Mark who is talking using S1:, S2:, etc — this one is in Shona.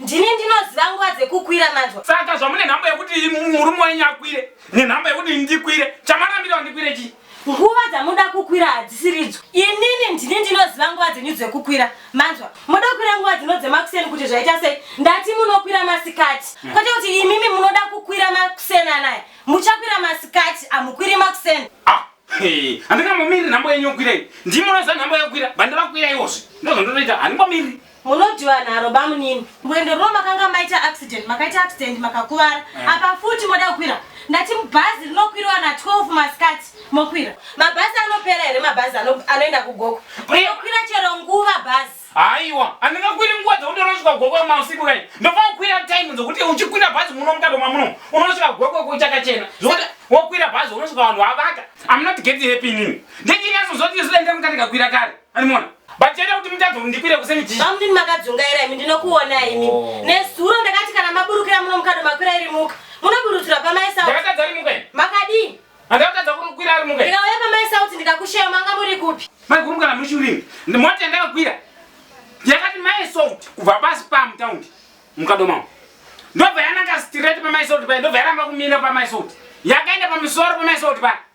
S1: Ndini ndinoziva nguva dzekukwira manzwa. Saka zvamune nhamba yekuti
S2: murume wenyu akwire nenhamba yekuti ndikwire chamarambira ndikwire chii? Nguva dzamuda
S1: kukwira hadzisiridzo. Inini ndini ndinoziva nguva dzenyu dzekukwira manzwa. Moda kukwira nguva dzino dzemakuseni kuti zvaita sei? Ndati munokwira masikati. Hmm. Kwete kuti imimi munoda kukwira makuseni anaya. Muchakwira masikati amukwiri makuseni. Ah,
S2: handingamomiri nhambo yenyu yokwirei. Ndimi munoziva nhambo yokwira. Bandavakwira iwozvi. Ndozvandinoita handingomiri. Munodiwa nharo
S1: bamunini. Mwendo runo makanga maita accident, makaita accident makakuvara. Eh. Apa futi moda kukwira. Ndati mubhazi rinokwiriwa na 12 masikati mokwira. Mabhazi anopera here mabhazi anoenda kuGoko? Mokwira chero nguva bhazi. Haiwa,
S2: andingakwiri nguva dzekuti unosvika Goko mausiku kai. Ndofanira kukwira time dzekuti uchikwira bhazi muno mukado mamuno. Unosvika Goko kuchakachena. Zvokuti wokwira bhazi unosvika vanhu vavaka. I'm not getting happy nini. Ndichinyatsozoti isu dai ndamukati kakwira kare. Animona. Bacheta kuti mutadzi ndikwire kuseni chii? Bamudini makadzungaira imi
S1: ndinokuona imi. Oh. Nezuro ndakati kana maburukira muno mukado makwira iri muka. Munoburutura pamai sauti. Ndakatadza ari muka.
S2: Makadii?
S1: Andakatadza kukwira
S2: ari muka. Ndikauya pamai sauti ndikakusheya
S1: manga muri kupi? Mai guru kana muri churimi.
S2: Ndimoti andakakwira. Yakati mai sauti kubva pasi pamu taundi. Mukado mamu. Ndobva yananga straight pamai sauti paya ndobva yaramba kumira pamai sauti. Yakaenda pamusoro pamai sauti paya.